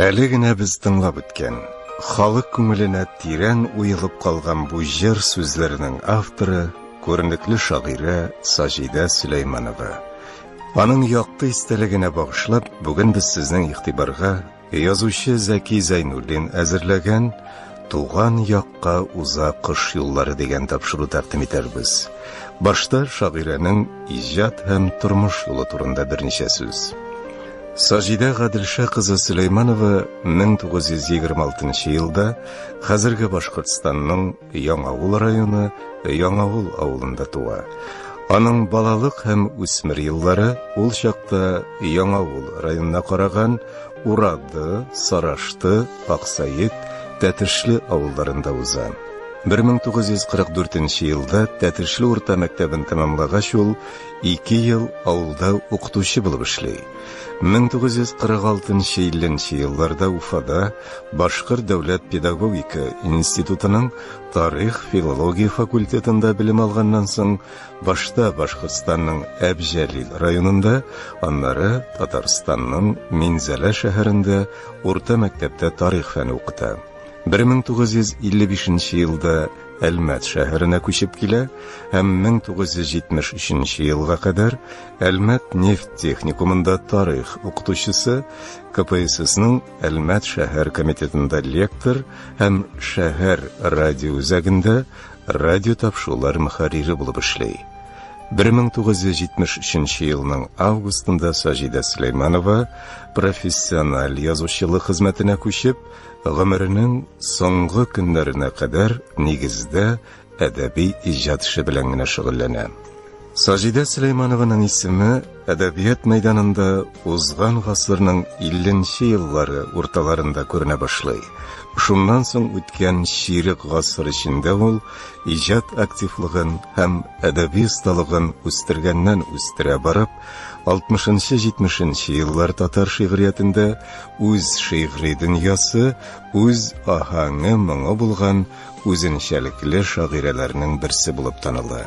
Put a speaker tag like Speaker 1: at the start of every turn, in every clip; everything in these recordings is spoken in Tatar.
Speaker 1: Әле генә без тыңлап үткән, халык күңеленә тирән уелып калган бу җыр сүзләренең авторы, күренекле шагыйрә Саҗидә Сөләйманова. Аның якты истәлегенә багышлап, бүген без сезнең игътибарга язучы Зәки Зәйнуллин әзерләгән Туган якка уза кыш юллары дигән тапшыру тәкъдим итәрбез. Башта шагыйрәнең иҗат һәм тормыш юлы турында берничә сүз. Саҗидә Гаделша кызы Сөләйманова 1926 елда хәзерге Башкортстанның Яңавыл районы Яңавыл авылында туа. Аның балалык һәм үсмер еллары ул чакта Яңавыл районына караган Урады, Сарашты, Аксаек, Тәтешле авылларында уза. 1944 нче елда Тәтешле урта мәктәбен тәмамлагач ул ике ел авылда укытучы булып эшли. 1946-50 елларда Уфада Башкорт дәүләт педагогика институтының тарих-филология факультетында белем алганнан соң Башта Башкортстанның Әбҗәлил районында, аннары Татарстанның Минзәлә шәһәрендә урта мәктәптә тарих фәне укыта. 1955 елда Әлмәт шәһәренә күчеп килә һәм 1973 елга кадәр Әлмәт нефть техникумында тарих укытучысы, КПССның Әлмәт шәһәр комитетында лектор һәм шәһәр радиоүзәгендә радиотапшулар мөхәррире булып эшли. 1973 елның августында Саҗидә Сөләйманова профессиональ язучылык хезмәтенә күчеп, гомеренең соңгы көннәренә кадәр нигездә әдәби иҗат эше белән генә шөгыльләнә. Саҗидә Сөләйманованың исеме әдәбият мәйданында узган гасырның 50 нче еллары урталарында күренә башлый. Шуннан соң үткән чирек гасыр эчендә ул иҗат активлыгын һәм әдәби осталыгын үстергәннән үстерә барып, 60-70 еллар татар шигъриятендә үз шигъри дөньясы, үз аһәңе-моңы булган үзенчәлекле шагыйрәләрнең берсе булып таныла.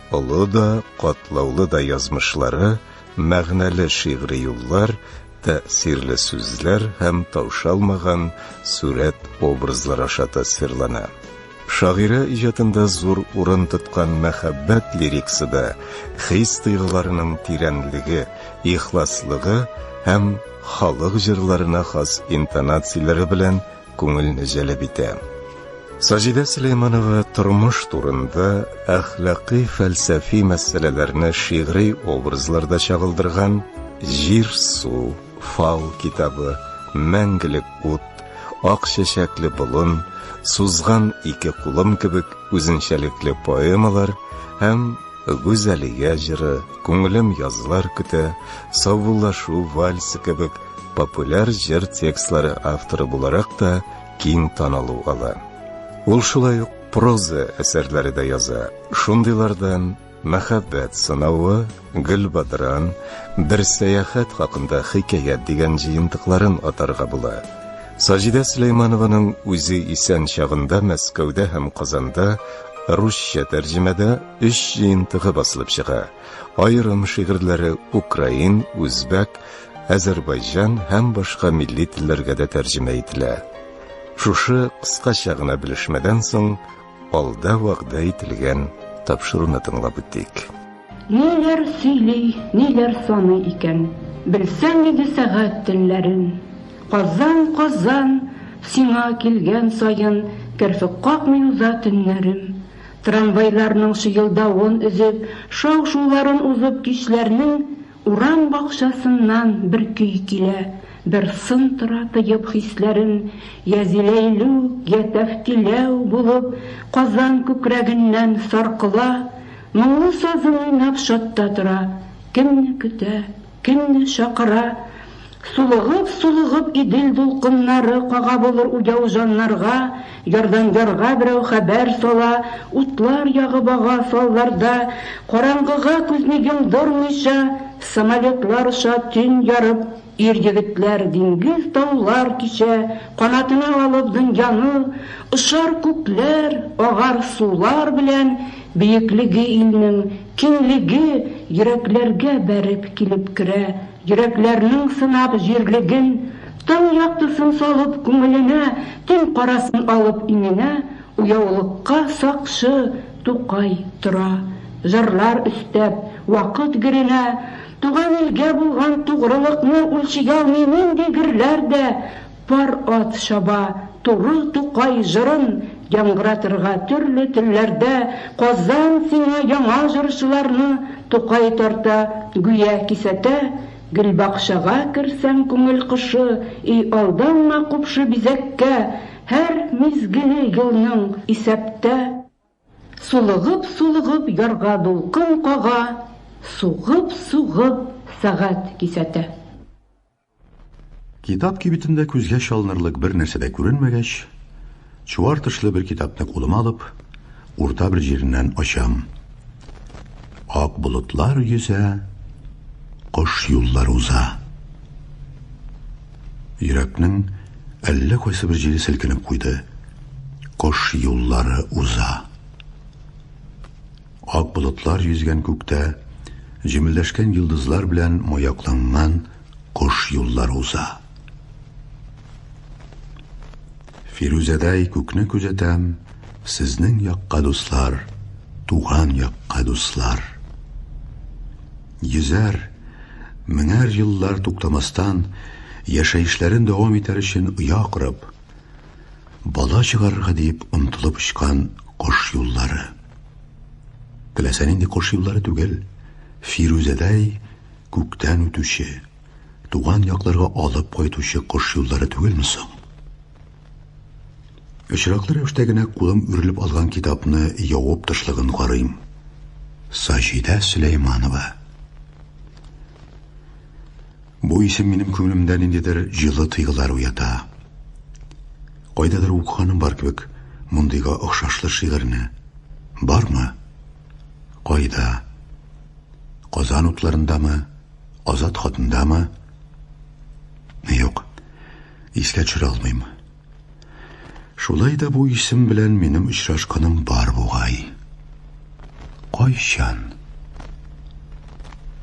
Speaker 1: Олы да, катлаулы да язмышлары, мәгънәле шигъри юллар, тәэсирле сүзләр һәм таушалмаган сурәт образлар аша тасвирлана. Шагыйрә иҗатында зур урын тоткан мәхәббәт лириксы да хис-тойгыларының тирәнлеге, ихласлыгы һәм халык җырларына хас интонацияләре белән күңелне җәлеп итә. Саҗидә Сөләйманова тормыш турында әхлакый фәлсәфи мәсьәләләрне шигъри образларда чагылдырган Җир су, Фал китабы, Мәңгелек ут, Ак чәчәкле болын, Сузган ике кулым кебек үзенчәлекле поэмалар һәм Гүзәлия җыры, Күңелем язлар көтә, Саубуллашу вальсы кебек популяр җыр текстлары авторы буларак та киң танылу ала. Ул шулай ук проза әсәрләре дә яза. Шундыйлардан Мәхәббәт сынавы, Гөлбадран, Бер сәяхәт хакында хикәят дигән җыентыкларын атарга була. Саҗидә Сөләйманованың үзе исән чагында Мәскәүдә һәм Казанда русча тәрҗемәдә өч җыентыгы басылып чыга. Аерым шигырьләре украин, үзбәк, Азербайҗан һәм башка милли телләргә дә тәрҗемә ителә. Шушы кыскача гына белешмәдән соң, алда вәгъдә ителгән тапшыруны тыңлап үтик. Ниләр
Speaker 2: сөйли, ниләр саный икән? Белсәң иде сәгать телләрен! Казан, Казан, сиңа килгән саен Керфек какмый уза төннәрем. Трамвайларның чыелдавын өзеп, Шау-шуларын узып кичләрнең, Урам бакчасыннан бер көй килә, Бер сын тора тоеп хисләрен, Йә зиләйлүк, йә тәфтиләү булып, Казан күкрәгеннән саркыла. Моңлы сазын уйнап чатта тора, Кемне көтә, кемне чакыра. Сулыгып, сулыгып Идел дулкыннары Кага булыр уяу җаннарга, Ярдан ярга берәү хәбәр сала, Утлар ягып ага салларда. Караңгыга күзне йомдырмыйча, Самолетлар оча төн ярып, Ир-егетләр диңгез-таулар кичә, Канатына алып дөньяны, Очар күкләр, агар сулар белән, Биеклеге илнең, киңлеге Йөрәкләргә бәреп килеп керә. Йөрәкләрнең сынап җирлеген, Таң яктысын салып күңеленә, Төн карасын алып иңенә, Уяулыкка сакчы Тукай тора. Җырлар өстәп, вакыт геренә, Туган илгә булган тугрылыкны Үлчиялми нинди герләр дә, Пар ат чаба туры Тукай җырын яңгыратырга төрле телләрдә Казан сиңа яңа җырчыларны Тукай тарта, гүя кисәтә Гөлбакчага керсәң күңел кошы И алданма купшы бизәккә Һәр мизгеле елның исәптә Сулыгып-сулыгып ярга дулкын кага Сугып-сугып сәгать кисәтә.
Speaker 3: Китап кибетендә күзгә чалынырлык бер нәрсә дә күренмәгәч, чуар тышлы бер китапны кулыма алып, урта бер җиреннән ачам. Ак болытлар йөзә, кош юллар уза. Йөрәкнең әллә кайсы бер җире селкенеп куйды. Кош юллары уза. Ак болытлар йөзгән күктә, җемелдәшкән йолдызлар белән маякланган кош юллары уза. Фирүзәдәй күкне күзәтәм, сезнең якка, дуслар, туган якка, дуслар. Йөзәр, меңәр еллар туктамастан, яшәешләрен дәвам итәр өчен оя корып, бала чыгарырга диеп омтылып очкан кош юллары. Теләсә нинди кош юллары түгел, Фирүзәдәй күктән үтүче, туган якларга алып кайтучы кош юллары түгелме соң? Очраклы рәвештә генә кулым үрелеп алган китапны явып тышлыгын карыйм. Саҗидә Сөләйманова. Бу исем минем күңелемдә ниндидер җылы тойгылар уята. Кайдадыр укыганым бар кебек мондыйга охшашлы шигырьне. Бармы? Кайда? Казан утларындамы? Азат хатындамы? Юк, искә төшерә алмыйм. Шулай да бу исем белән минем очрашканым бар бугай. Кайчан?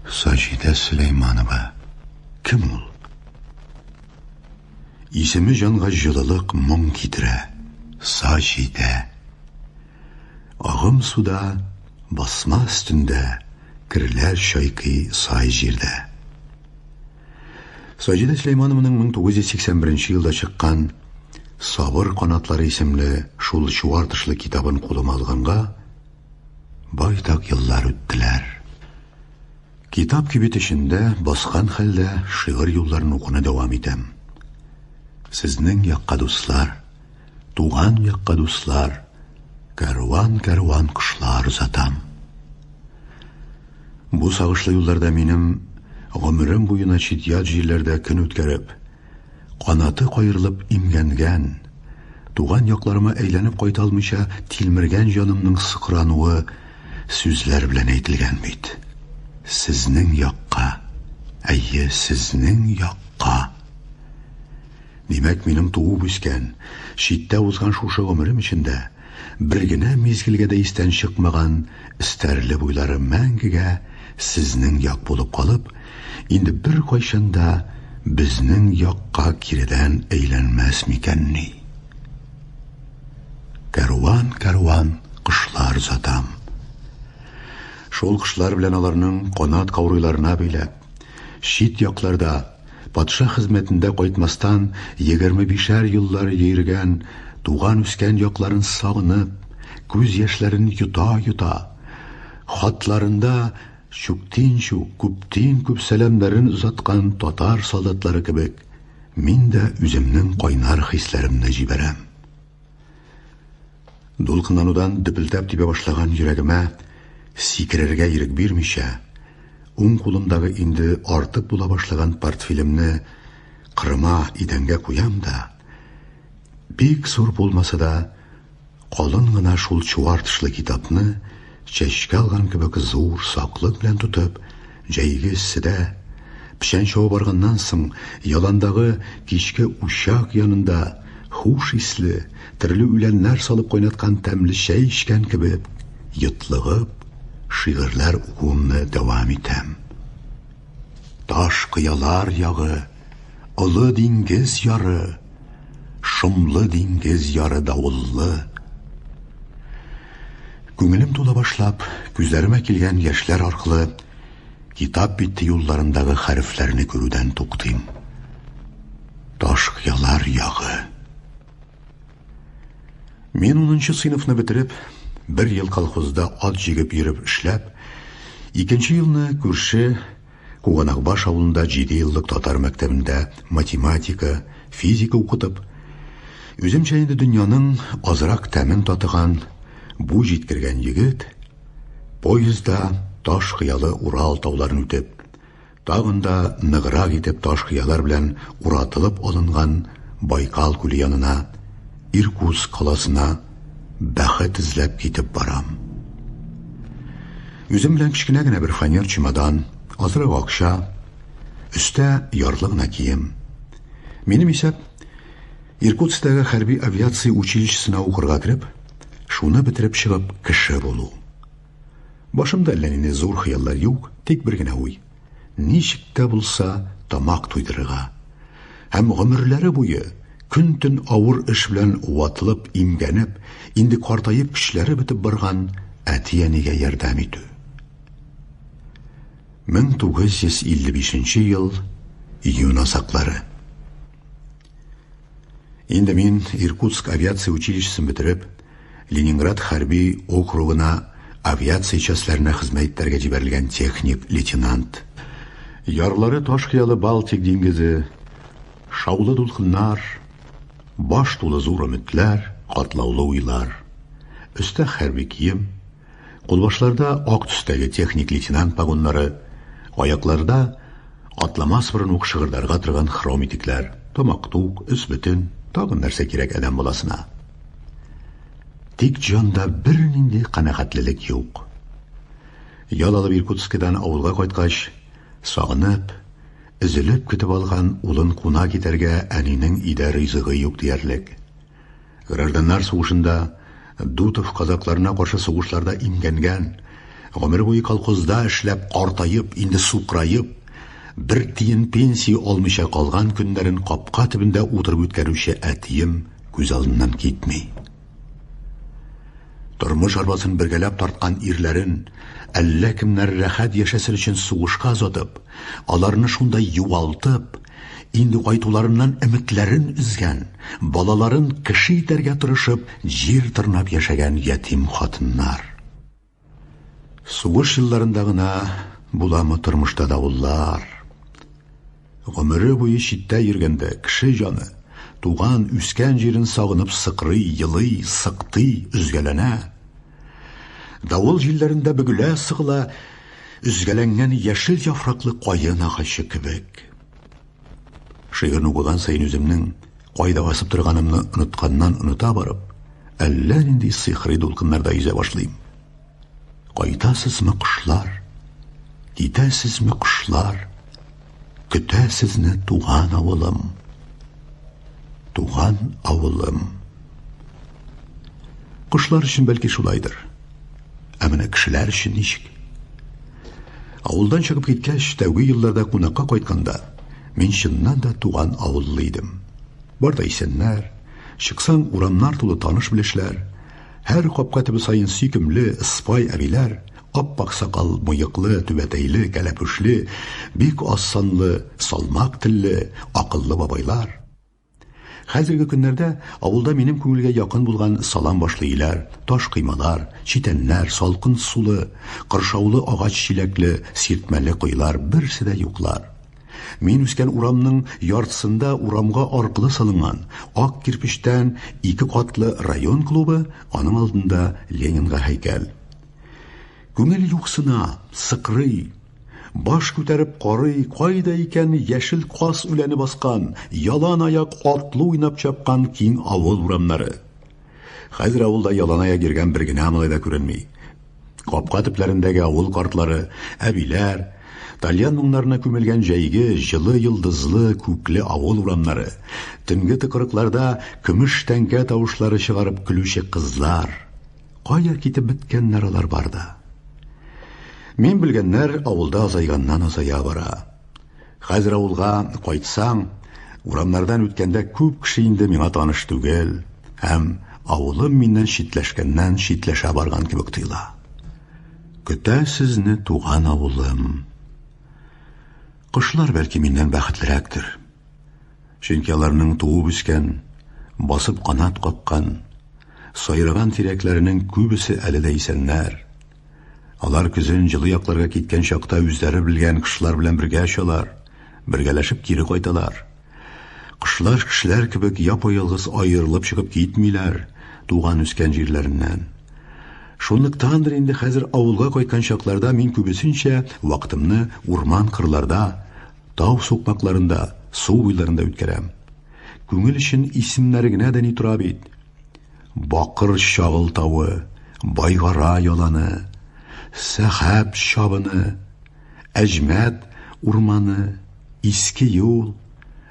Speaker 3: Саҗидә Сөләйманова. Кем ул? Исеме җанга җылылык, моң китерә. Саҗидә. Агым суда, басма өстендә, керләр чайкый сай җирдә. Саҗидә Сөләйманованың 1981 елда чыккан Сабыр канатлары исемле шул чуар тышлы китабын кулыма алганга, байтак еллар үттеләр. Китап кибет эчендә баскан хәлдә шигырь юлларын укуны дәвам итәм. Сезнең якка дуслар, туган якка дуслар, кәрван-кәрван кошлар озатам. Бу сагышлы юлларда минем гомерем буена чит-ят җирләрдә көн үткәреп, канаты каерылып имгәнгән, туган якларыма әйләнеп кайта алмыйча тилмергән җанымның сыкрануы сүзләр белән әйтелгән бит. Сезнең якка, әйе, сезнең якка! Димәк, минем туып-үскән, читтә узган шушы гомерем эчендә, Бер генә мизгелгә дә истән чыкмаган Стәрле буйлары мәңгегә сезнең як булып калып, инде беркайчан да безнең якка киредән әйләнмәс микәнни? Кәрван-кәрван кошлар озатам. Шул кошлар белән аларның канат каурыйларына бәйләп, чит якларда, Патша хезмәтендә кайтмастан егерме бишәр еллар йөргән, туган-үскән якларын сагынып, күз яшьләрен йота-йота, хатларында чүктин-чүк, күптин-күп сәламнәрен озаткан татар солдатлары кебек, мин дә үземнең кайнар хисләремне җибәрәм. Дулкынланудан дөпелдәп тибә башлаган йөрәгемә сикерергә ирек бирмичә, уң кулымдагы инде артык була башлаган портфелемне кырыма идәнгә куям да, бик зур булмаса да, калын гына шул чуар тышлы китапны чәчкә алган кебек зур саклык белән тотып, Җәйге эсседә, печән чабып арганнан соң, яландагы кичке учак янында хуш исле, төрле үләннәр салып кайнаткан тәмле чәй эчкән кебек, йотлыгып, шигырьләр укуымны дәвам итәм. Таш кыялар ягы. Олы диңгез яры, шомлы диңгез яры давыллы. Күңелем тула башлап, күзләремә килгән яшьләр аркылы китап бите юлларындагы хәрефләрне күрүдән туктыйм. Таш ялар ягы. Мин 10 сыйныфны бетереп, бер ел колхозда ат җигеп йөреп эшләп, икенче елны күрше Куганакбаш авылында җиде еллык татар мәктәбендә математика, физика укытып, үземчә инде дөньяның азрак тәмен татыган бу җиткергән егет, поездда таш кыялы Урал тауларын үтеп, тагын да ныграк итеп таш кыялар белән уратылып алынган Байкал күле янына, Иркутск каласына бәхет эзләп китеп барам. Үзем белән кечкенә генә бер фанер чемодан, азрак акча, өстә ярлы гына кием. Минем исәп, Иркутскидагы хәрби авиация училищесына укырга кереп, шуны бетереп чыгып кеше булу. Башымда әллә нинди зур хыяллар юк, тик бер генә уй. ничек тә булса тамак туйдырырга һәм гомерләре буе көн-төн авыр эш белән ватылып, имгәнеп, инде картаеп көчләре бетеп барган әти-әнигә ярдәм итү. 1955 ел июнь азаклары. Инде мин Иркутск авиация училищесын бетереп, Ленинград хәрби округына авиация частьләренә хезмәт итәргә җибәрелгән техник-лейтенант. Ярлары таш хыялы Балтик диңгезе, шаулы дулкыннар, баш тулы зур өметләр, катлаулы уйлар. Өстә хәрби кием, Кулбашларда ак төстәге техник лейтенант погоннары, аякларда атламас борын ук шыгырдарга торган хром итекләр, тамак тук, өс бөтен, тагын нәрсә кирәк адәм баласына. Тик җанда бернинди канәгатьлелек юк. Ял алып Иркутскидан авылга кайткач, сагынып, өзелеп көтеп алган улын куна китәргә әнинең өйдә ризыгы юк диярлек. Гражданнар сугышында Дутов казакларына каршы сугышларда имгәнгән, гомер буе колхозда эшләп картаеп, инде сукраеп, бер тиен пенсия алмыйча калган көннәрен капка төбендә утырып үткәрүче әтием күз алдыннан китми. Тормыш арбасын бергәләп тарткан ирләрен әллә кемнәр рәхәт яшәсен өчен сугышка озатып, аларны шунда югалтып, Инде кайтуларыннан өметләрен өзгән, балаларын кеше итәргә тырышып, җир тырнап яшәгән ятим хатыннар. Сугыш елларында гына буламы тормышта давыллар? Гомере буе читтә йөргәндә кеше җаны туган, үскән җирен сагынып сыкрый, елый, сыктый, өзгәләнә. Давыл җилләрендә бөгелә, сыгыла, Өзгәләнгән яшел яфраклы каен агачы кебек. Шигырьне укыган саен үземнең кайда басып торганымны онытканнан-оныта барып, әллә нинди сихри дулкыннарда йөзә башлыйм. Кайтасызмы, кошлар? Китәсезме, кошлар? Көтә сезне туган авылым. Туган авылым. Кошлар өчен бәлки шулайдыр. Ә менә кешеләр өчен ничек? Авылдан чыгып киткәч, тәүге елларда кунакка кайтканда, мин чыннан да туган авыллы идем. Бар да исәннәр, чыксаң, урамнар тулы таныш-белешләр, Һәр капка төбе саен сөйкемле, ыспай әбиләр, ап-ак сакал, мыеклы, түбәтәйле, кәләпүшле, бик аз санлы, салмак телле, акыллы бабайлар. Хәзерге көннәрдә авылда минем күңелгә якын булган салам башлы өйләр, таш коймалар, читәннәр, салкын сулы, кыршаулы агач чиләкле, сиртмәле коелар берсе дә юклар. Мин үскән урамның яртысында урамга аркылы салынган ак кирпечтән ике катлы район клубы, аның алдында Ленинга һәйкәл. Күңел юксына, сыкрый. Баш күтәреп карый, кайда икән яшел кас үләне баскан, ялан аяк атлы уйнап чапкан киң авыл урамнары. Хәзер авылда ялан аяк йөргән бер генә малай да күренми. Капка төпләрендәге авыл картлары, әбиләр, тальян моңнарына күмелгән җәйге җылы йолдызлы күкле авыл урамнары, төнге тыкрыкларда көмеш тәңкә тавышлары чыгарып көлүче кызлар. Кая китеп беткәннәр алар барда? Мин белгәннәр авылда азайганнан-азая бара. Хәзер авылга кайтсам, урамнардан үткәндә күп кеше инде миңа таныш түгел һәм авылым миннән читләшкәннән читләшә барган кебек тоела. Көтә сезне туган авылым. Кошлар бәлки миннән бәхетлерәктер. Чөнки аларның туып үскән, басып канат капкан, сайраган тирәкләренең күбесе әле дә исәннәр. Алар көзен җылы якларга киткән чакта үзләре белгән кышлар белән бергә очалар, бергәләшеп кире кайталар. Кышлар кешеләр кебек япа-ялгыз аерылып чыгып китмиләр туган үскән җирләреннән. Шунлыктандыр инде хәзер авылга кайткан чакларда мин күбесенчә вакытымны урман-кырларда, тау сукмакларында, су буйларында үткәрәм. Күңел өчен исемнәре генә дә ни тора бит. Бакыр чагылтавы, байгара яланы, сәхәп чабыны, Әҗмәт урманы, Иске юл,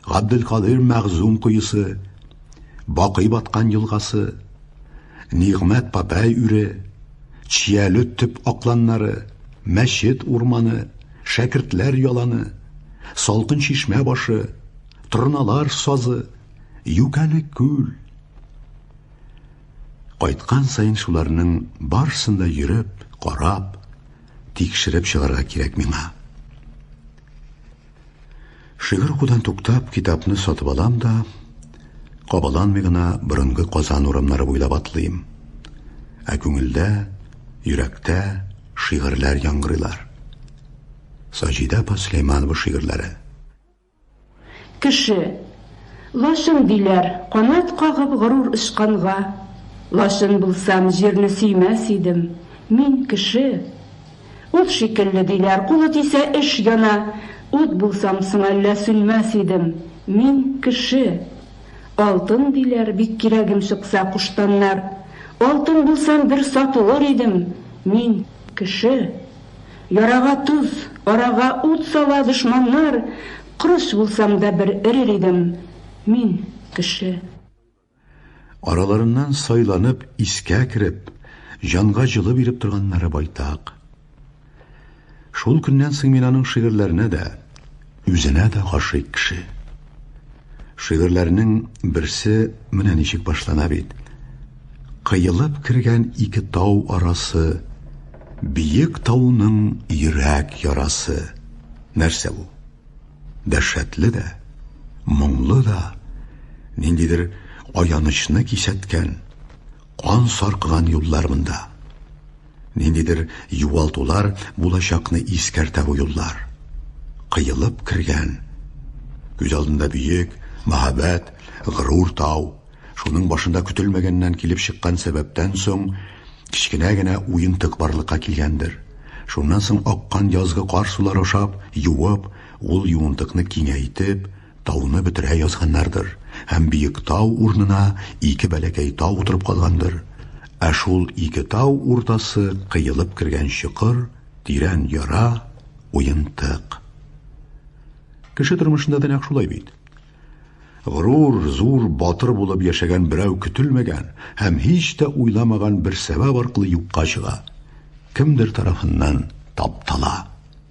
Speaker 3: Габделкадыйр Мәгъзум коесы, Бакый баткан елгасы, Нигъмәт Папәй үре, Чияле төп акланнары, Мәчет урманы, Шәкертләр яланы, Салкын чишмә башы, Торналар сазы, Юкәле күл, Кайткан сайын шуларның барсын да йөреп, карап, тикшереп чыгарга кирәк миңа. Шигырь укудан туктап, китапны сатып алам да, кабаланмый гына борынгы Казан урамнары буйлап атлыйм. Ә күңелдә, йөрәктә шигырьләр яңгырыйлар. Саҗидә апа Сөләйманова шигырьләре. Кеше.
Speaker 2: Лачын диләр, канат кагып горур очканга. Лачын булсам, җирне сөймәс идем. Мин, кеше. Ут шикелле, диләр, кулы тисә, эш яна. Ут булсам соң әллә сүнмәс идем. Мин, кеше. Алтын диләр, бик кирәгем чыкса, куштаннар. Алтын булсам, бер сатылыр идем. Мин, кеше. Ярага тоз, арага ут сала дошманнар, Кош булсам да бер өрер идем, мин, кеше. Араларыннан
Speaker 3: сайланып, искә кереп, Җанга җылы биреп торганнары байтак. Шул көннән соң мин аның шигырьләренә дә, Үзенә дә гашыйк кеше. Шигырьләрнең берсе менә ничек башлана бит. Кыелып кергән ике тау арасы, Биек тауның йөрәк ярасы. Нәрсә бу? Дәһшәтле дә, моңлы да, ниндидер аянычны кисәткән, Кан саркыган юллар монда. Ниндидер югалтулар булачакны искәртә бу юллар. Кыелып кергән. Күз алдында бөек, мәһабәт, горур тау. Шуның башында көтелмәгәннән килеп чыккан сәбәптән соң кечкенә генә уентык барлыкка килгәндер. Шуннан соң аккан язгы кар сулары ашап, юып, ул юынтыкны киңәйтеп, Тауны бетерә язганнардыр һәм биек тау урнына ике бәләкәй тау утырып калгандыр, ә шул ике тау уртасы кыелып кергән чокыр, тирән яра, уентык. Кеше тормышында да нәкъ шулай бит. Горур, зур, батыр булып яшәгән берәү көтелмәгән һәм һич тә уйламаган бер сәбәп аркылы юкка чыга, кемдер тарафыннан таптала.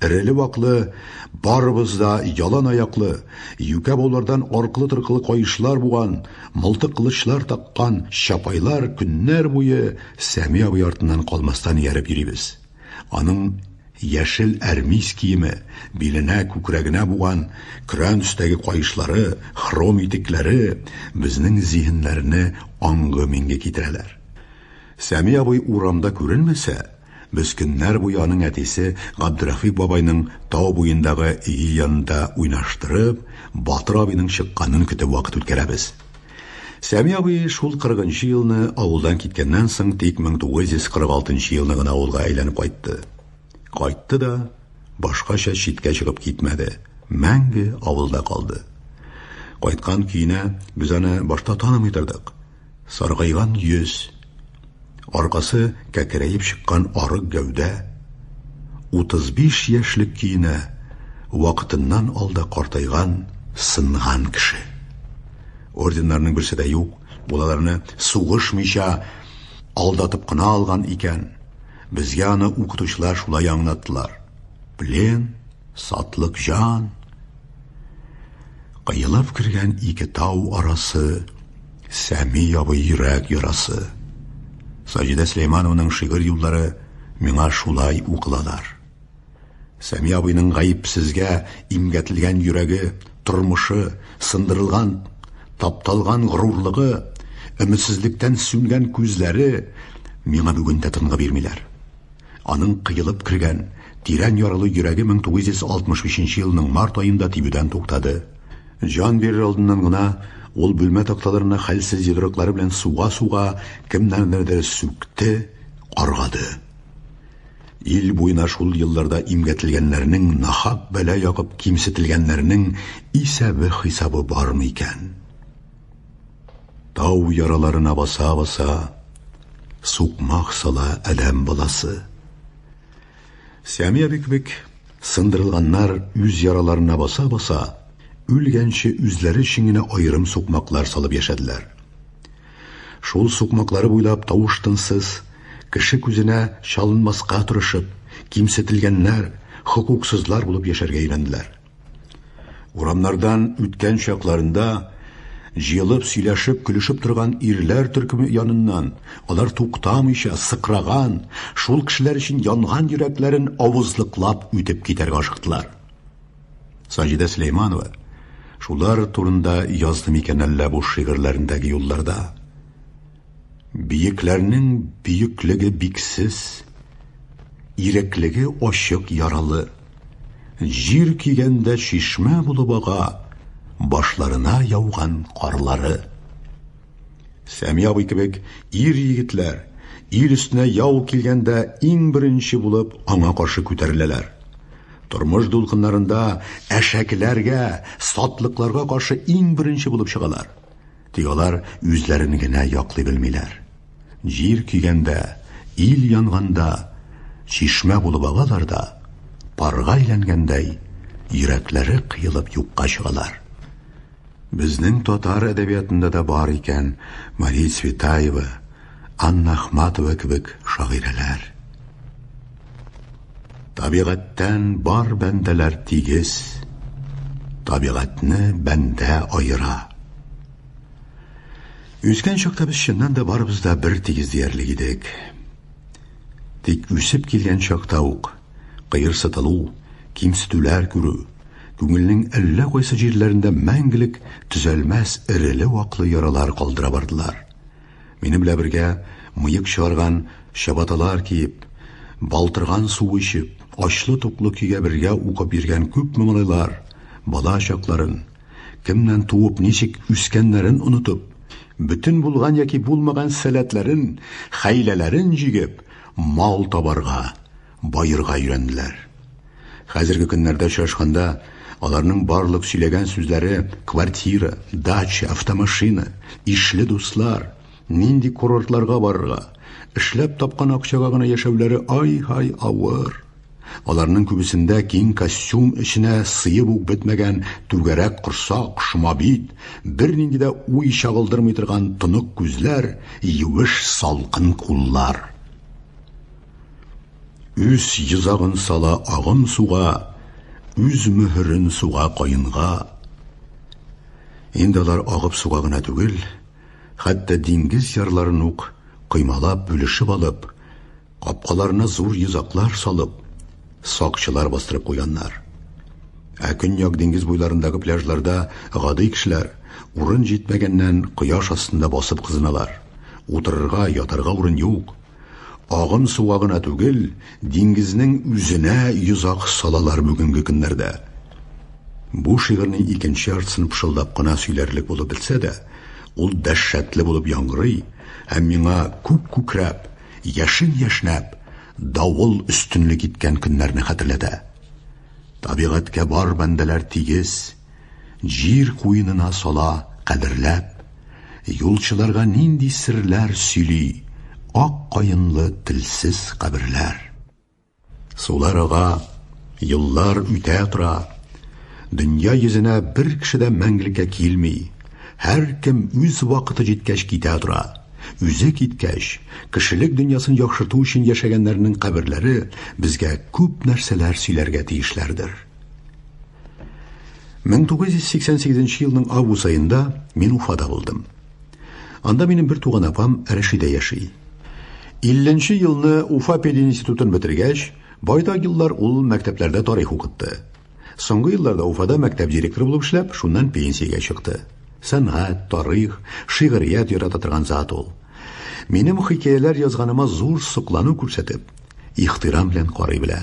Speaker 3: Эреле-ваклы, барыбыз да ялан аяклы, юкә баулардан аркылы-торкылы каешлар буган, мылтык кылычлар таккан чапайлар көннәр буе Сәми абый артыннан калмастан ияреп йөрибез. Аның яшел әрмис киеме, биленә, күкрәгенә буган көрән төстәге каешлары, хром итекләре безнең зиһеннәрне аңгы-миңге китерәләр. Сәми абый урамда күренмәсә, Без көннәр буе аның әтисе Габдерәфыйк бабайның тау буендагы өе янында уйнаштырып, Батыр абыйның чыкканын көтеп вакыт үткәрәбез. Сәми абый шул 40 нчы елны авылдан киткәннән соң тик 1946 нчы елны гына авылга әйләнеп кайтты. Кайтты да, башкача читкә чыгып китмәде, мәңге авылда калды. Кайткан көенә без аны башта танымый тордык. Саргайган йөз, аркасы кәкерәеп чыккан арык гәүдә, 35 яшьлек көенә вакытыннан алда картайган, сынган кеше. Орденнарның берсе дә юк, ул аларны сугышмыйча алдатып кына алган икән. Безгә аны укытучылар шулай аңлаттылар. Плен, сатлык җан, Кыелып кергән ике тау арасы, Сәми ябы йөрәк ярасы. Саҗидә Сөләйманованың шигырь юллары миңа шулай укылалар. Сәми абыйның гаепсезгә имгәтелгән йөрәге, тормышы, сындырылган, тапталган горурлыгы, өметсезлектән сүнгән күзләре миңа бүген дә тынгы бирмиләр. Аның кыелып кергән, тирән яралы йөрәге 1965 елның март аенда тибүдән туктады. Җан бирер алдыннан гына ул бүлмә такталарына хәлсез йодрыклары белән суга-суга кемнәрнедер сүкте, каргады. Ил буена шул елларда имгәтелгәннәрнең, нахак бәла ягып кимсетелгәннәрнең исәбе-хисабы бармы икән? Тау яраларына баса-баса, сукмак сала әләм баласы. Сәмия бик бик сындырылганнар үз яраларына баса-баса, үлгәнче үзләре өчен генә аерым сукмаклар салып яшәделәр. Шул сукмаклары буйлап тавыш-тынсыз, кеше күзенә чалынмаска тырышып, кимсетелгәннәр, хокуксызлар булып яшәргә өйрәнделәр. Урамнардан үткән чакларында җыелып сөйләшеп, көлешеп торган ирләр төркеме яныннан алар туктамыйча сыкраган, шул кешеләр өчен янган йөрәкләрен авызлыклап үтеп китәргә ашыктылар. Саҗидә Сөләйманова шулар турында язды микән әллә бу шигырьләрендәге юлларда? Биекләрнең бөеклеге биксез, иреклеге ачык яралы. Җир кигәндә чишмә булып ага, башларына яуган карлары. Сәми абый кебек ир-егетләр ил өстенә яу килгәндә иң беренче булып аңа каршы күтәреләләр. Тормыш дулкыннарында әшәкеләргә, сатлыкларга каршы иң беренче булып чыгалар. Тик алар үзләрен генә яклый белмиләр. Җир көйгәндә, ил янганда, чишмә булып агалар да, парга әйләнгәндәй, йөрәкләре кыелып юкка чыгалар. Безнең татар әдәбиятында да бар икән Мария Цветаева, Анна Ахматова кебек шагыйрәләр. Табигатьтән бар бәндәләр тигез, табигатьне бәндә аера. Үскән чакта без чыннан да барыбыз да бер тигез диярлек идек. Тик үсеп килгән чакта ук кыерсытылу, кимсетүләр күрү, күңелнең әллә кайсы җирләрендә мәңгелек төзәлмәс эреле-ваклы яралар калдыра бардылар. Минем белә бергә мыек чыгарган чабаталар киеп, балтырган су эчеп, ачлы-туклы көйгә бергә укып йөргән күпме малайлар, бала чакларын, кемнән туып, ничек үскәннәрен онытып, бөтен булган яки булмаган сәләтләрен, хәйләләрен җигеп, мал табарга, Баерга өйрәнделәр. Хәзерге көннәрдә очрашканда, аларның барлык сөйләгән сүзләре квартира, дача, автомашина, ишле дуслар, нинди курортларга барырга, эшләп тапкан акчага гына яшәүләре ай-һай авыр. Аларның күбесендә киң костюм эченә сыеп ук бетмәгән түгәрәк корсак, шома бит, бернинди дә уй чагылдырмый торган тонык күзләр, юеш салкын куллар. Үз йозагын сала агым суга, үз мөһерен суга каенга. Инде алар агып суга гына түгел, хәтта диңгез ярларын ук коймалап, бүлешеп алып, капкаларына зур йозаклар салып, сакчылар бастырып куйганнар. Ә көньяк диңгез буйларындагы пляжларда гади кешеләр, урын җитмәгәннән, кояш астында басып кызыналар. Утырырга, ятарга урын юк. Агым суга гына түгел, диңгезнең үзенә йозак салалар бүгенге көннәрдә. Бу шигырьнең икенче яртысын пышылдап кына сөйләрлек булып бетсә дә, ул дәһшәтле булып яңгырый һәм миңа күк күкрәп, яшен яшьнәп, давыл өстенлек иткән көннәрне хәтерләтә. Табигатькә бар бәндәләр тигез. Җир куенына сала, кадерләп, Юлчыларга нинди серләр сөйли Ак каенлы телсез каберләр. Сулар ага, еллар үтә тора, Дөнья йөзенә бер кеше дә мәңгелеккә килми, Һәркем үз вакыты җиткәч китә тора. Үзе киткәч, кешелек дөньясын яхшырту өчен яшәгәннәрнең каберләре безгә күп нәрсәләр сөйләргә тиешләрдер. 1988 елның август аенда мин Уфада булдым. Анда минем бер туган апам Рәшидә яши. 50 елны Уфа пединститутын бетергәч, байтак еллар ул мәктәпләрдә тарих укытты. Соңгы елларда Уфада мәктәп директоры булып эшләп, шуннан пенсиягә чыкты. Сәнгать, тарих, шигърият ярата торган зат ул. Минем хикәяләр язганыма зур соклану күрсәтеп, Ихтирам белән карый белә.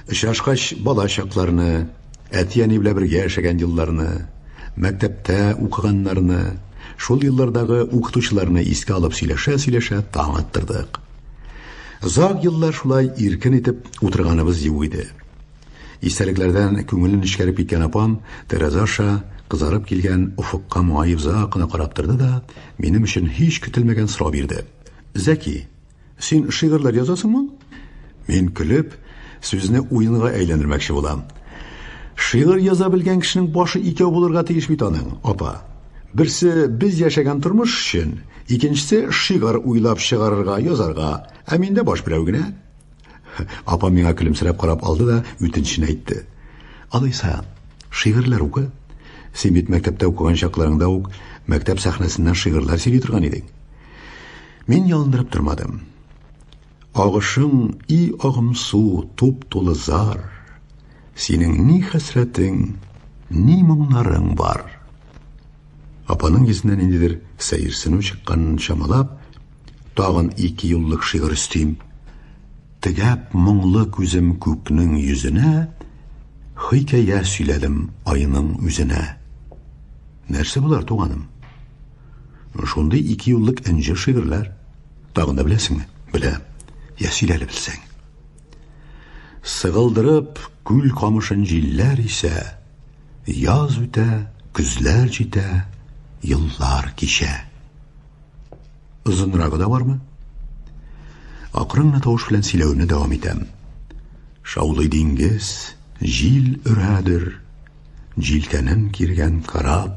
Speaker 3: Очрашкач, бала чакларны, әти-әни белән бергә яшәгән елларны, мәктәптә укыганнарны, шул еллардагы укытучыларны искә алып сөйләшә-сөйләшә таң аттырдык. Зак еллар шулай иркен итеп утырганыбыз юк иде. Истәлекләрдән күңелен нечкәреп киткән апам тәрәзә аша кызарып килгән офыкка моңаеп озак кына карап торды да, минем өчен һич көтелмәгән сорау бирде. Зәки, Син шигырьләр язасыңмы? Мин көлеп, сүзне уенга әйләндермәкче булам. Шигырь яза белгән кешенең башы икәү булырга тиеш бит аның, апа. Берсе без яшәгән тормыш өчен, икенчесе шигырь уйлап чыгарырга, язарга. Ә миндә баш берәү генә. Апа миңа көлемсерәп карап алды да үтенечен әйтте. Алайса, шигырьләр укы. Син бит мәктәптә укыган чакларыңда ук мәктәп сәхнәсеннән шигырьләр сөйли торган идең. Мин ялындырып тормадым. Агышың и агымсу, туп тулы зар. Синең ни хәсрәтең, ни моңнарың бар. Апаның йөзеннән ниндидер сәерсенү чыкканын чамалап, тагын ике юллык шигырь өстим. Тегәп моңлы күзем күкнең йөзенә, хикәя сөйләдем айның үзенә. Нәрсә болар, туганым? Шундый ике юллык энҗе шигырьләр. Тагын да беләсеңме? Беләм. Я сөйлә әле белсәң. Сыгылдырып күл камышын җилләр исә, яз үтә, көзләр җитә, еллар кичә. Озынрагы да бармы? Акрын гына тавыш белән сөйләвемне дәвам итәм. Шаулый диңгез, җил өрәдер, җилкәнен киргән кораб,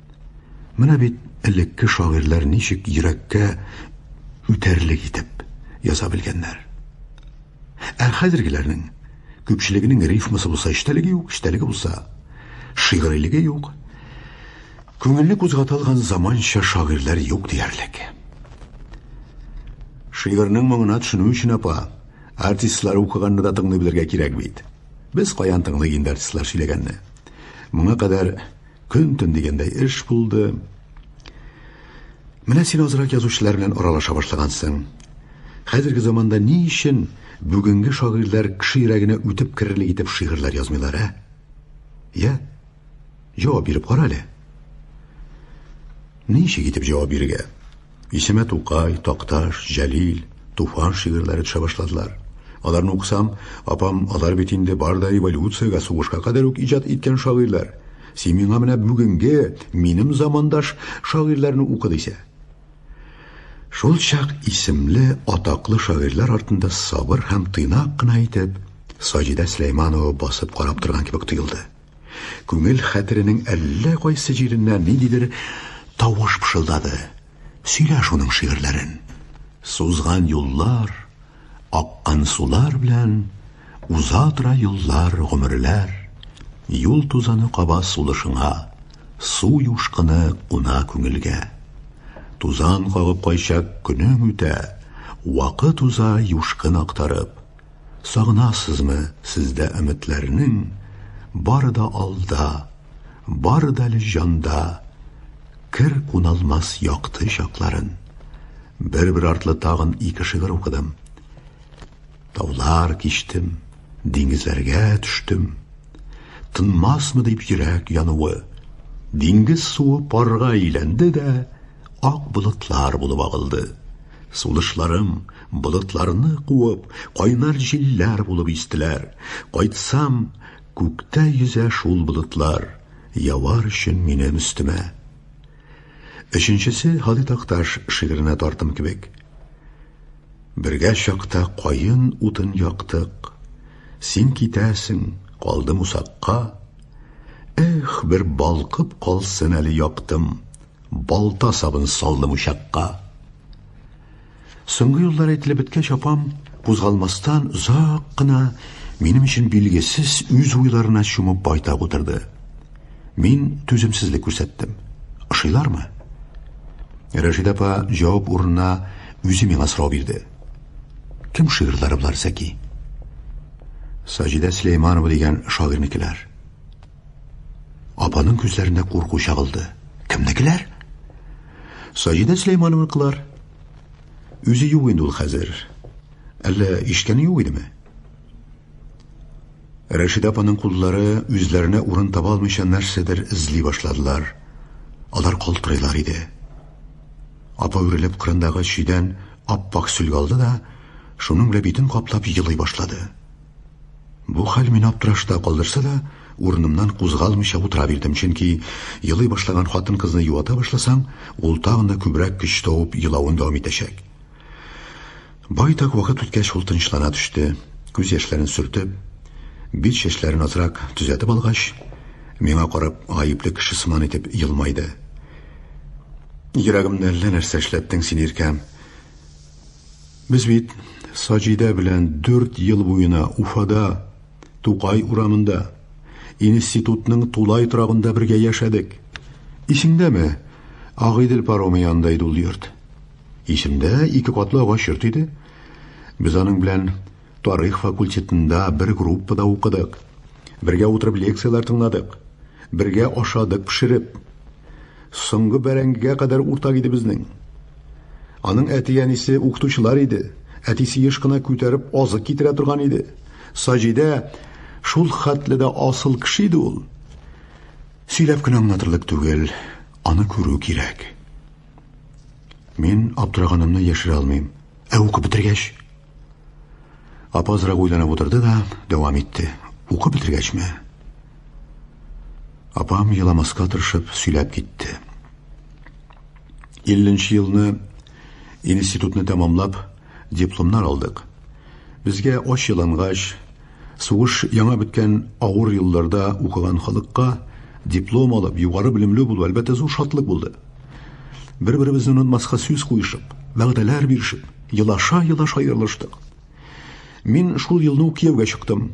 Speaker 3: Менә бит элекке шагыйрьләр ничек йөрәккә үтәрлек итеп яза белгәннәр. Ә хәзергеләрнең күпчелегенең рифмасы булса эчтәлеге юк, эчтәлеге булса шигърилеге юк. Күңелне кузгата алган заманча шагыйрьләр юк диярлек. Шигырьнең моңына төшенү өчен апа, артистлар укыганны да тыңлый белергә кирәк бит. Без каян тыңлый инде артистлар сөйләгәнне. Моңа кадәр Көн-төн дигәндәй эш булды. Менә син азрак язучылар белән аралаша башлагансың. Хәзерге заманда ни өчен бүгенге шагыйрьләр кеше йөрәгенә үтеп керерлек итеп шигырьләр язмыйлар, ә? Я? Җавап биреп кара әле. Ничек итеп җавап бирергә? Исемә Тукай, Такташ, Җәлил, Туфан шигырьләре төшә башладылар. Аларны укысам, апам, алар бит инде бар да революциягә, сугышка кадәр үк иҗат иткән шагыйрьләр. Син миңа менә бүгенге, минем замандаш шагыйрьләрне укы дисә. Шул чак исемле атаклы шагыйрьләр артында сабыр һәм тыйнак кына итеп Саҗидә Сөләйманова басып карап торган кебек тоелды. Күңел хәтеренең әллә кайсы җиреннән ниндидер тавыш пышылдады. Сөйлә шуның шигырьләрен. Сузган юллар, аккан сулар белән уза тора еллар, гомерләр. Юл тузаны каба сулышыңа, су юшкыны куна күңелгә. Тузан кагып кайчак көнең үтә, вакыт уза юшкын актарып, Сагынасызмы сездә өметләрнең Бары да алда, бары да әле җанда Кер куналмас якты чакларын Бер-бер артлы тагын ике шигырь укыдым Таулар кичтем, диңгезләргә төштем Тынмасмы дип йөрәк януы Диңгез суы парга әйләнде дә Ак болытлар булып агылды Сулышларым, болытларны куып, кайнар җилләр булып истеләр. Кайтсам, күктә йөзә шул болытлар, явар өчен минем өстемә. Өченчесе Һали Такташ шигыренә тартым кебек. Бергә чакта каен утын яктык, син китәсең, калдым усакка. Эх, бер балкып калсын әле яктым. Балта сабын салдым учакка. Соңгы юллар әйтелеп беткәч, апам кузгалмастан озак кына минем өчен билгесез үз уйларына чумып байтак утырды. Мин түземсезлек күрсәттем. Ошыйлармы? Рәшид апа җавап урынына үзе миңа сорау бирде. Кем шигырьләре болар, Зәки? Саҗидә Сөләйманова дигән шагыйрьнекеләр. Апаның күзләренә курку чагылды. Кемнекеләр? Саҗидә Сөләймановныкылар. Үзе юк инде ул хәзер. Әллә ишкәне юк идеме? Рәшидә апаның куллары үзләренә урын таба алмыйча нәрсәдер эзли башладылар. Алар калтырыйлар иде. Апа үрелеп кырындагы чөйдән ап-пак сөлге алды да, шуның белән битен каплап елый башлады. Бу хәл мине аптырашта калдырса да, урынымнан кузгалмыйча утыра бирдем, чөнки елый башлаган хатын-кызны юата башласаң, ул тагын да күбрәк көч тавып елавын дәвам итәчәк. Байтак вакыт үткәч, ул тынычлана төште. Күз яшьләрен сөртеп, бит чәчләрен азрак төзәтеп алгач, миңа карап, гаепле кеше сыман итеп елмайды. Йөрәгемне әллә нәрсә эшләттең син, Иркәм. Без бит Саҗидә белән дүрт ел буена Уфада, Тукай урамында, институтның тулай торагында бергә яшәдек. Исеңдәме? Агыйдел паромы янында иде ул йорт. Исемдә, ике катлы агач йорт иде. Без аның белән Тарих факультетында бер группада укыдык. Бергә утырып лекцияләр тыңладык. Бергә ашадык пешереп. Соңгы бәрәңгегә кадәр уртак иде безнең. Аның әти-әнисе укытучылар иде. Әтисе еш кына күтәреп азык китерә торган иде. Саҗидә шул хәтле дә асыл кеше иде ул. Сөйләп кенә аңлатырлык түгел, аны күрү кирәк. Мин аптыраганымны яшерә алмыйм. Ә укып бетергәч, Апа азрак уйланып утырды да, дәвам итте. Укып бетергәчме? Апам еламаска тырышып сөйләп китте. 50 елны институтны тәмамлап, дипломнар алдык. Безгә ач елангач, Сугыш яңа беткән авыр елларда укыган халыкка диплом алып, югары белемле булу, әлбәттә, зур шатлык булды. Бер-беребезне онытмаска сүз куешып, вәгъдәләр бирешеп, елаша-елаша аерылыштык. Мин шул елны ук кияүгә чыктым.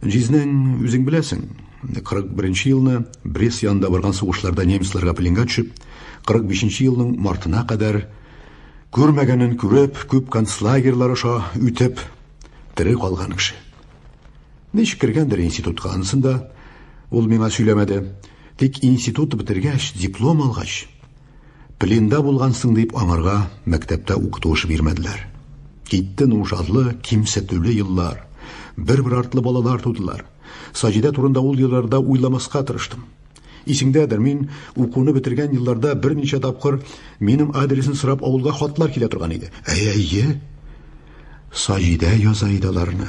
Speaker 3: Җизнәң, үзең беләсең, 41 елны Брест янында барган сугышларда немецларга пленга төшеп, 45 елның мартына кадәр күрмәгәнен күреп, күп концлагерьлар аша үтеп, Тере калган кеше. Ничек кергәндер институтка, анысын да ул миңа сөйләмәде. Тик институт бетергәч, диплом алгач, пленда булгансың дип аңарга мәктәптә укытуыш бирмәделәр. Китте нужарлы, кимсетүле еллар. Бер-бер артлы балалар тудылар. Саҗидә турында ул елларда уйламаска тырыштым. Исеңдәдер, мин укуны бетергән елларда берничә тапкыр минем адресны сорап авылга хатлар килә торган иде. Әйе. Саҗидә яза иде аларны.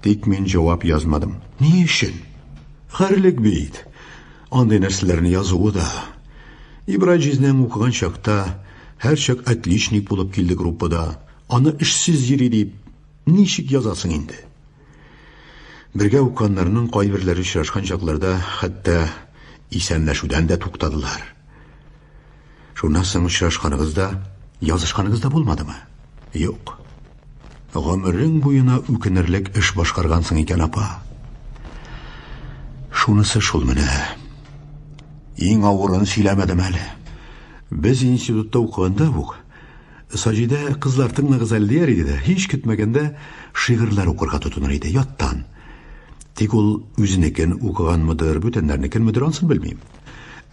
Speaker 3: Тик мин җавап язмадым. Ни өчен? Хәрлек бит. Андый нәрсәләрне язуы да. Ибрай җизнәң укыган чакта һәрчак отличник булып килде группада. Аны эшсез йөри дип ничек язасың инде? Бергә укканнарның кайберләре очрашкан чакларда хәтта исәнләшүдән дә туктадылар. Шуннан соң очрашканыгыз да, язышканыгыз да булмадымы? Юк. Гомерең буена үкенерлек эш башкаргансың икән, апа. Шунысы шул менә. Иң авырын сөйләмәдем әле. Без институтта укыганда ук Саҗидә кызлар тыңлагыз әле дияр иде дә, һич көтмәгәндә шигырьләр укырга тотыныр иде, яттан. Тик ул үзенекен укыганмыдыр, бүтәннәрнекенмедер, ансын белмим.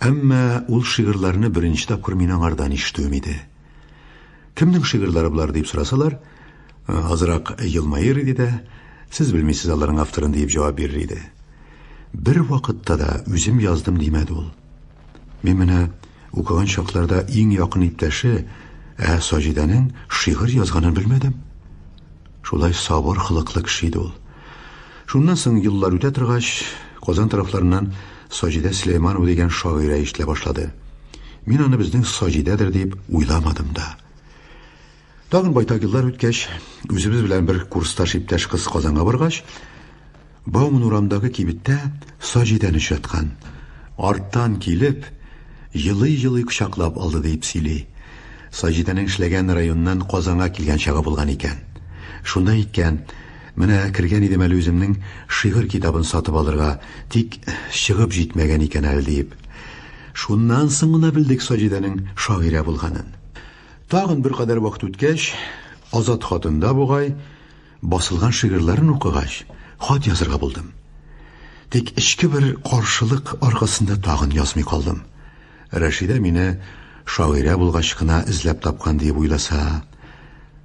Speaker 3: Әмма ул шигырьләрне беренче тапкыр мин аңардан ишетүем иде. Кемнең шигырьләре болар дип сорасалар, азрак елмаер иде дә, сез белмисез аларның авторын диеп җавап бирер иде. Бер вакытта да үзем яздым димәде ул. Мин менә укыган чакларда иң якын иптәше ә Саҗидәнең шигырь язганын белмәдем. Шулай сабыр хылыклы кеше иде ул. Шуннан соң еллар үтә торгач, Казан тарафларыннан Саҗидә Сөләйманова дигән шагыйрә ишетелә башлады. Мин аны безнең Саҗидәдер дип уйламадым да. Тагын байтак еллар үткәч, үзебез белән бер курсташ иптәш кыз Казанга баргач, Бауман урамындагы кибеттә Саҗидән очраткан. Арттан килеп, елый-елый кочаклап алды, диеп сөйли. Саҗидәнең эшләгән районыннан Казанга килгән чагы булган икән. Шунда әйткән, Менә кергән идем әле үземнең шигырь китабын сатып алырга, тик чыгып җитмәгән икән әле, диеп. Шуннан соң гына белдек Саҗидәнең шагыйрә булганын. Тагын беркадәр вакыт үткәч, Азат хатында бугай, басылган шигырьләрен укыгач, хат язырга булдым. Тик эчке бер каршылык аркасында тагын язмый калдым. Рәшидә мине шагыйрә булгач кына эзләп тапкан диеп уйласа,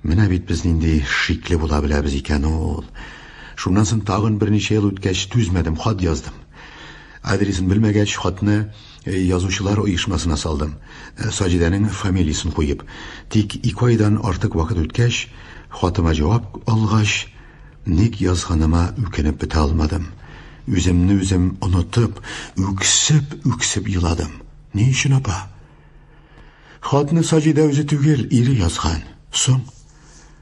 Speaker 3: менә бит без нинди шикле була беләбез икән ул. Шуннан соң тагын берничә ел үткәч түзмәдем, хат яздым. Адресын белмәгәч, хатны Э, язучылар оешмасына салдым, э, Саҗидәнең фамилиясен куеп. Тик ике айдан артык вакыт үткәч, хатыма җавап алгач, ник язганыма үкенеп бетә алмадым. Үземне үзем онытып, үксеп, үксеп еладым. Ни өчен апа? Хатны Саҗидә үзе түгел, ире язган. Соң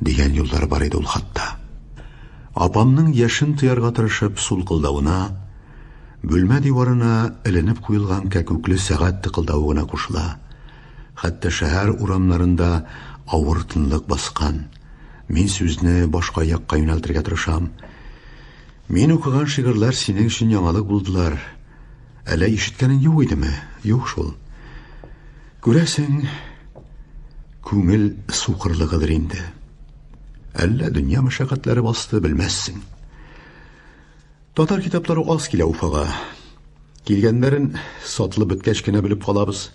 Speaker 3: дигән юллар бар иде ул хатта. Апамның яшен тыярга тырышып сулкылдавына, бүлмә диварына эленеп куелган кәкүкле сәгать тыкылдавы гына кушыла. Хәтта шәһәр урамнарында авыр тынлык баскан. Мин сүзне башка якка юнәлтергә тырышам. Мин укыган шигырьләр синең өчен яңалык булдылар. Әллә ишеткәнең юк идеме? Юк шул. Күрәсең, күңел сукырлыгыдыр инде. Әллә дөнья мәшәкатьләре басты, белмәссең. Татар китаплары аз килә Уфага. Килгәннәрен сатылып беткәч кенә белеп калабыз.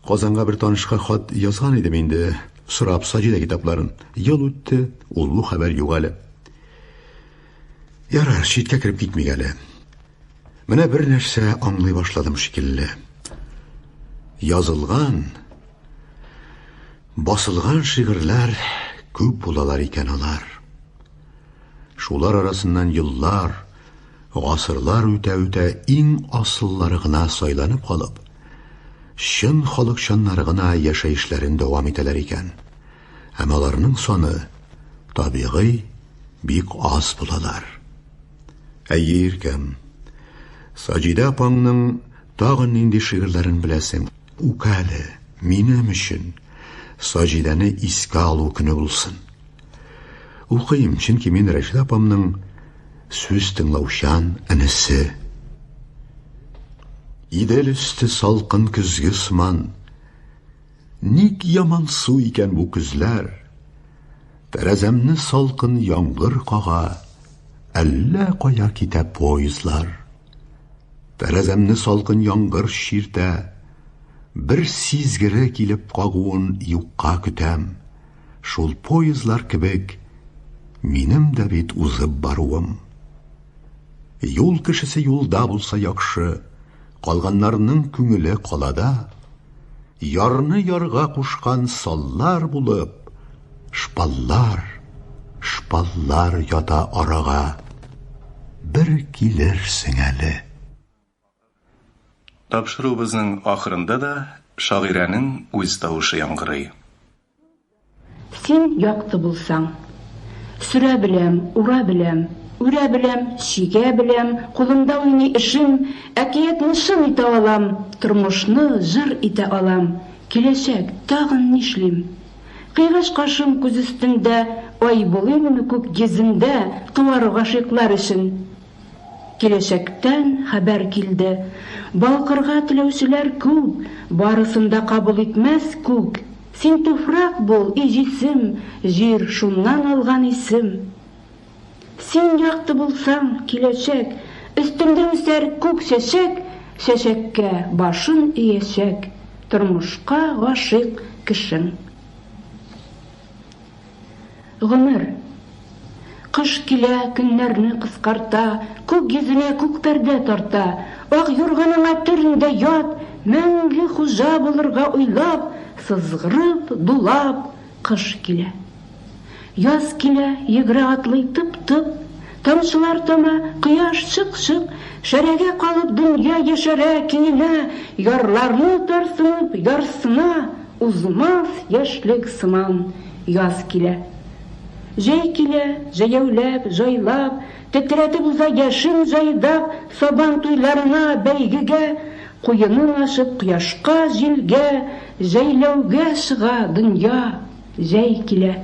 Speaker 3: Казанга бер танышка хат язган идем инде, сорап Саҗидә китапларын. Ел үтте, ул бу хәбәр юк әле. Ярар, читкә кереп китмик әле. Менә бер нәрсә аңлый башладым шикелле. Язылган, басылган шигырьләр күп булалар икән алар. Шулар арасыннан еллар, гасырлар үтә-үтә иң асыллары гына сайланып калып, чын халыкчаннары гына яшәешләрен дәвам итәләр икән. Һәм аларның саны, табигый, бик аз булалар. Әйе, иркәм. Саҗидә апаңның тагын нинди шигырьләрен беләсең? Үкәле, минем өчен Саҗидәне искә алу көне булсын. Укыйм, чөнки мин Рәшид апамның сүз тыңлаучан энесе. Идел өсте салкын көзге сыман, Ник яман су икән бу көзләр? Тәрәзәмне салкын яңгыр кага, әллә кая китә поездлар. Тәрәзәмне салкын яңгыр чиртә, бер сизгере килеп кагуын юкка көтәм. Шул поездлар кебек, минем дә бит узып баруым. Юл кешесе юлда булса яхшы, калганнарның күңеле калада. Ярны ярга кушкан саллар булып, шпаллар, шпаллар ята арага. Бер килерсең әле.
Speaker 1: Тапшыруыбызның ахырында да шагыйрәнең үз тавышы яңгырый. Син
Speaker 2: якты булсаң. Сөрә беләм, ура беләм, Үрә беләм, чигә беләм, Кулымда уйный эшем, Әкиятне чын итә алам, Тормышны җыр итә алам, Киләчәк, тагын нишлим? Кыйгач кашым күз өстендә, Ай булыйммы күк йөзендә, Туар гашыйклар өчен? Киләчәктән хәбәр килде. Балкырга теләүчеләр күп, Барысын да кабул итмәс күк. Син туфрак бул, и җисем, Җир, шуннан алган исем. Син якты булсаң, киләчәк, Өстеңдә үсәр күк чәчәк, Чәчәккә башын иячәк Тормышка гашыйк кешең. Гомер. Кыш килә, көннәрне кыскарта, Күк йөзенә күк пәрдә тарта. Ак юрганыңа төрендә ят, Мәңге хуҗа булырга уйлап, Сызгырып, дулап, кыш килә. Яз килә, йөгерә-атлый тып-тып. Тамчылар тама, кояш чык-чык, Шәрәгә калып дөнья яшәрә, Киенә, ярларны тарсынып, ярсына, Узмас яшьлек сыман яз килә. Җәй килә, җәяүләп, җайлап, Тетрәтеп уза яшен җайдак, Сабан туйларына, бәйгегә, Куенын ачып кояшка, җилгә, Җәйләүгә чыга дөнья, җәй килә.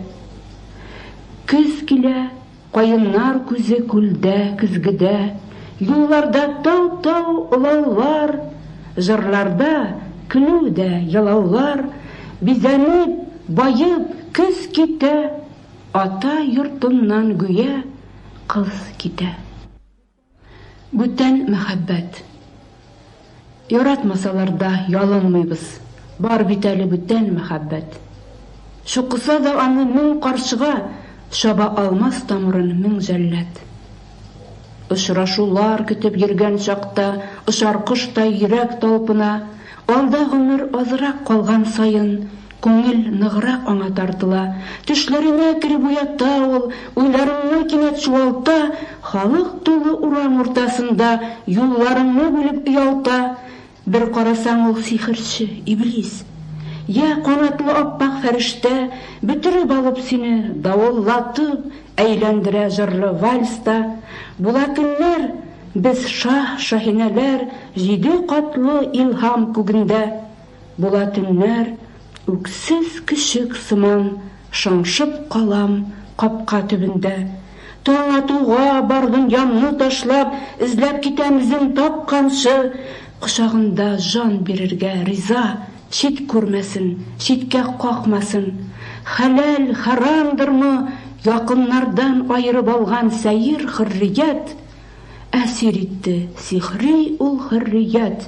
Speaker 2: Көз килә. Каеннар күзе күлдә, көзгедә, Юлларда тау-тау олаулар, Җырларда, көлү дә, елаулар, Бизәнеп, баеп, көз китә, Ата йортыннан гүя кыз китә. Бүтән мәхәббәт. Яратмасалар да ялынмыйбыз, бар бит әле бүтән мәхәббәт. Чукыса да аны мең карчыга, чаба алмас тамырын мең җәллад. Очрашулар көтеп йөргән чакта очар коштай йөрәк талпына, алда гомер азрак калган саен Күңел ныграк аңа тартыла. Төшләреңә кереп уята ул, уйларыңны кинәт чуалта, Халык тулы урам уртасында юлларыңны бүлеп оялта. Бер карасаң, ул сихерче, иблис. Йә, канатлы ап-ак фәрештә, Бөтереп алып сине, давыллатып, Әйләндерә җырлы вальста. Була көннәр, без шаһ-шаһинәләр Җиде катлы илһам күгендә. Була төннәр, үксез көчек сыман Шыңшып калам капка төбендә. Таң атуга бардым янны ташлап, Эзләп китәм эзен тапканчы. Кочагында җан бирергә риза, Чит күрмәсен, читкә какмасын. Хәләл, хәрамдырмы, якыннардан Аерып алган сәер хөррият? Әсир итте сихри ул хөррият.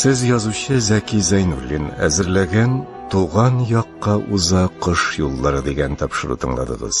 Speaker 1: Сез язучы Зәки Зәйнуллин әзерләгән Туган якка уза кыш юллары дигән тапшыру тыңладыгыз.